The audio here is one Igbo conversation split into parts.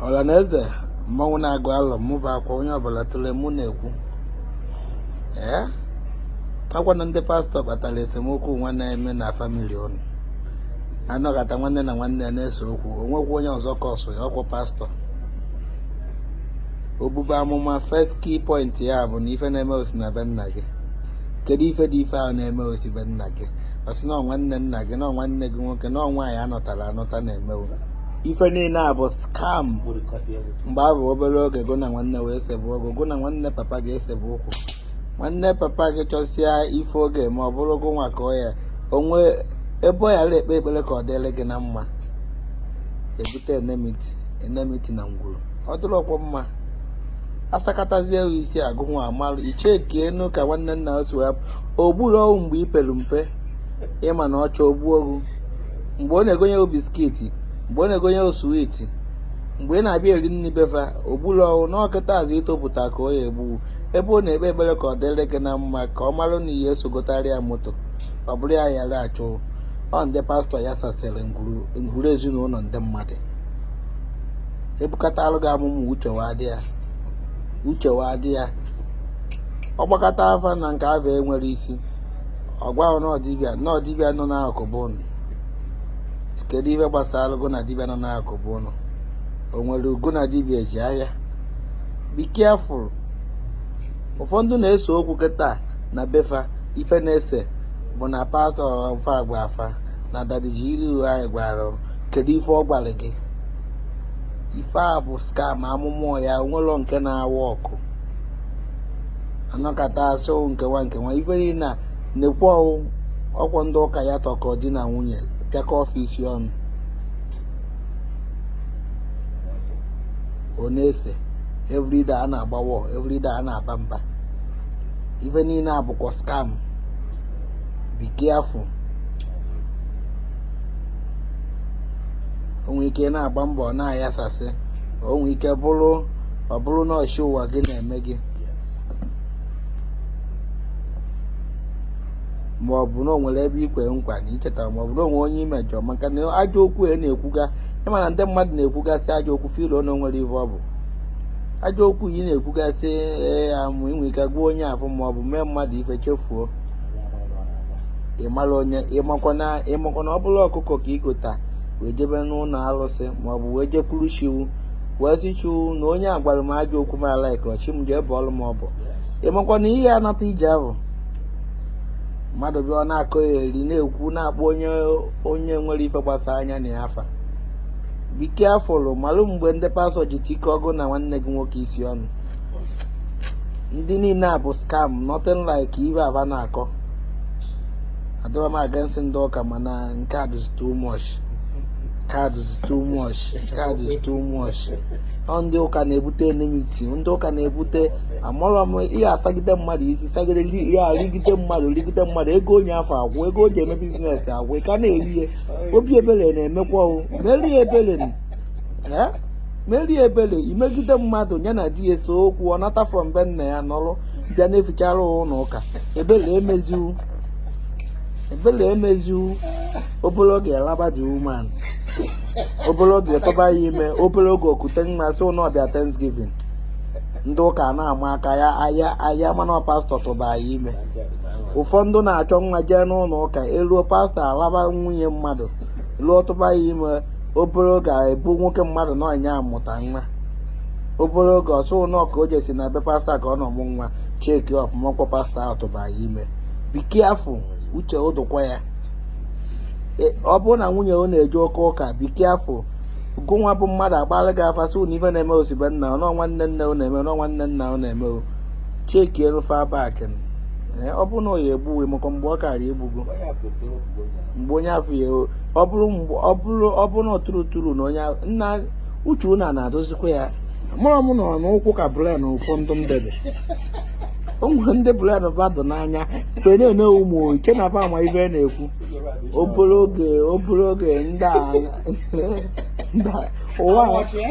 ọla na eze mmanwụ na-agụ alọ mụ bụ akwa onye ọbụla tụle mụ na-ekwu ee ọkwa na ndị pastọ kpatara esemokwu nwa na-eme na famili ụnụ anọkata nwanne na nwanne ya na-ese okwu onwekwu onye ọzọ kọsụ ya ọkwụ pastọ o bube amụma first key point ya bụ na ife na-eme osi na be nna gị kedu ife dị ife ahụ na-eme osi be nna gị ọsị na nwanne nna gị na nwanne gị nwoke na nwaanyị anụtara anụta na-eme gụ ife niile a bụ skam mgbe a bụ obere oge gụ na nwanne wee sebe okwu gụ na nwanne papa gị esebe okwu nwanne papa gị chọsịa ife oge ma ọ bụrụ gụ nwa ka ọ ya onwe ebe ọ yara ekpe ekpere ka ọ dịrị gị na mma ebute enemiti enemiti na ngwuru ọ dịrọkwọ mma asakatazie isi gụ nwa amalụ ichekie enu ka nwanne nna o si wee o gburọ gụ mgbe i pere mpe ịma na ọ chọọ o gbuo mgbe ọ na-egonye o biskiti mgbe ọ na-egonye o switi mgbe ị na-abịa eri nri befa o gburọ gụ na ọ kịta azị itopụta ka ọ ya egbu ebe ọ na-ekpe ekpere ka ọ dịrị gị na mma ka ọ marụ na ị ya-eso gotara ya moto ọ bụrụ ya yara achụ ọ ndị pastọ yasasịrị ngwuru ezinụlọ ndị mmadụ ebukatalụ gị amụma uche wa dị ya uche wa dị ya ọ gbakata afa na nke afa enwerọ isi ọ gwa gụ na ọ dibịa na ọ dibịa nọ n'akụkụ be ụnụ kedu ife gbasara gụ na dibịa nọ n'akụkụ be ụnụ o nwere gụ na dibịa eji ahịa be careful ụfọdụ na-ese okwu kịta na befa ife na-ese bụ na pastọ fa agwa fa na dadiji iru anyị gwara kedu ife ọ gwara gị ife a bụ skam amụma ya onwelọ nke na-awa ọkụ anọkata asị ọwụ nkewa nkewa ife niile a na-ekwu ọwụ ọkwọ ndị ụka ya-atụkọ di na nwunye pịakọọ fa isi ọnụ ọ na-ese everyday a na-agba war everyday a na-aba mba ife niile a bụkwa skam be careful onwe ike ị na-agba mbọ ọ na-ayasasị onwe ike bụrụ ọ bụrụ na ọ chi ụwa gị na-eme gị ma ọ bụ na o nwere ebe ikwe nkwa na ichetarọ ma ọ bụ na onwe onye imejọ maka na ajọ okwu e na-ekwuga ịma na ndị mmadụ na-ekwugasị ajọ okwu filo na onwerọ ihe ọ bụ ajọ okwu i na-ekwugasị ee amụ inwe ike gwa onye afụ ma ọ bụ mee mmadụ ife chefuo ịmara onye ịmakwa na ọ bụrụ ọkụkọ ka igota wee jebe n'ụlọ arụsị maọbụ wee jekwuru chi gụ wee sị Chukwu na onye a gwara m ajọ okwu m ala ikọrọ chi m jee bọọlụ m ọbọ ị makwa na ihe anata ije ahụ mmadụ bịa ọ na-akọyeri na-ekwu na-akpọ onye onye nwere ife gbasa anya na ya afa be careful malụ mgbe ndị pastọ ji tikọ gị na nwanne gị nwoke isi ọnụ ndị niile a bụ scam nothing like ife a ba na-akọ adịrọ m against ndị ụka mana nke a dịzi too much nke a dịzi too much nke a dịzi too much ndị ụka na-ebute enmity ndị ụka na-ebute amụrọ m ihe a sagide mmadụ isi sagide ya e rigide mmadụ rigide mmadụ ego onye afụ agwụ ego o ji eme business agwụ ị ka na-eri ya obi ebere na-emekwa o merie ebere merie ebere i megide mmadụ ya na di ya ese okwu ọ nata from be nna ya nọrọ bịa na-efichara ụlọ ụka ebere emeziwu ebere emeziwu obere oge a laba the woman obere oge tụba ya ime obere oge o kute nwa sị na ọ bịa thanksgiving ndị ụka na-ama aka ya aya aya mana pastọ tụba ya ime ụfọdụ na-achọ nwa jee n'ụlọ ụka e ruo pastọ alaba nwunye mmadụ lụọ tụba ya ime obere oge ebu nwoke mmadụ na ọ nya mụta nwa obere oge ọ sị na ka o je sị na be pastọ ka ọ nọ mụ nwa check ọfụma ọ kwa pastọ ahụ tụba ya ime be careful uche ụ dụkwa ya e, ọ bụrụ na nwunye ọ na-eje oke ụka be careful gụnwa bụ mmadụ a gbaara gị afa sị na ife na-eme ọ si be nna ọ na ọ nwanne nne ọ na-eme na ọ nwanne nna ọ na-eme o cheki elu fa back e, ọ bụrụ na ọ ya egbuwe maka mgbe ọ kara egbugo mgbe onye afụ ya ọ bụrụ ọ bụrụ ọ bụrụ na ọtụrụ tụrụ na onye nna uche ụnụ na-adịzikwa ya amarọ m na ọ n'ụkwụ ka brain ụfọdụ ndị dị ụmụ ndị brain ba dụ n'anya mgbe na-ene ụmụ i che na ba ama ife na-ekwu obere oge obere oge ndị a ndị a- ụwa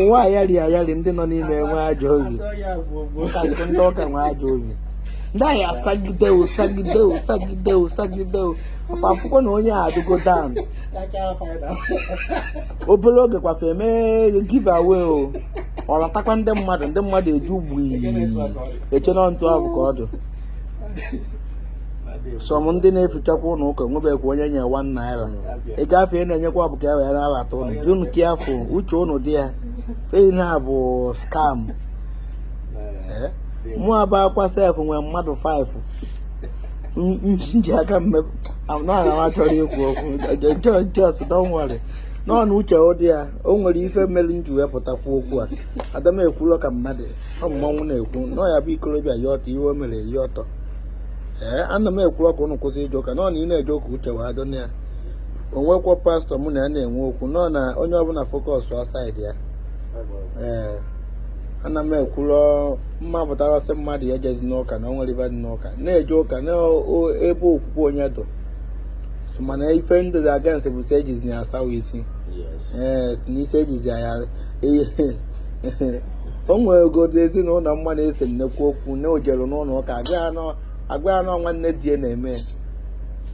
ụwa ayari ayari ndị nọ n'ime enwe ajọ obi Ụka nke ndị ụka nwe ajọ obi ndị anyị asagide o sagide o sagide o sagide o ọkwa akwụkwọ na onye a adịgo down obere oge kwa fa eme give away o ọ ratakwa ndị mmadụ ndị mmadụ eju gbui e che na etu ahụ ka ọ dị some ndị na-efichakwa ụlọ ụka nwebekwa onye nye one naira ị gafe ị na-enyekwa bụ ka e wee na-alata ụnụ dị ụnụ careful uche ụnụ dị ya fehi na bụ scam eh? mụ abụ akwa sef nwee mmadụ 5 n ji aka m mepụ na chọrọ ikwu okwu just don't worry n'ọnụ uche ụ dị ya o nwere ife mere n ji wepụtakwu okwu a ada m ekwulo ka mmadụ ọ bụ mmanwụ na-ekwu nọ ya bụ ikorobịa ya ọtọ ihe o mere ya ọtọ ee ana m ekwurọ ka ụnụ kwụsị ije ụka nọ na ị na-eje ụka uche wee adọ na ya o nwekwa pastọ mụ na ya na-enwe okwu nọ na onye ọbụla focus a side ya ee ana m ekwurọ ma m pụtara sị mmadụ ya ejezina ụka na o nwere ibe dị n'ụka na-eje ụka n'ebe okwukwe onye dụ so mana ife ndị dị against bụ si ejizi ya asawa isi ee si n'isi ejizi ya o nwegodo ezinụlọ m ma na-ese nnekwu okwu na o jere n'ụlọ ụka agwa ya nọ nwanne di ya na-eme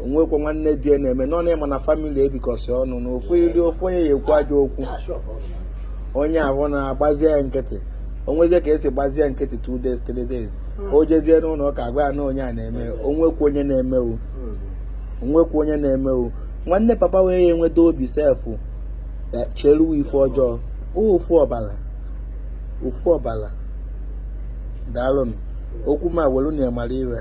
o nwekwa nwanne di ya na-eme nọ na ịma na family ebikọsị ọnụ na ofu iri ofu onye ya ekwu ajọ okwu onye ahụ na-agbazie ya nkịtị o nwezie ka e si gbazie nkịtị two days three days hmm. o jezie n'ụlọ ụka agwa ya na onye a na-eme o nwekwa onye na-emewu hmm. o nwekwa onye na-emewu nwanne papa wee ya enweta obi sef cheruwe ife ọjọọ ofu ọbala ofu ọbala daalụnụ okwu ma welu na ya mara ife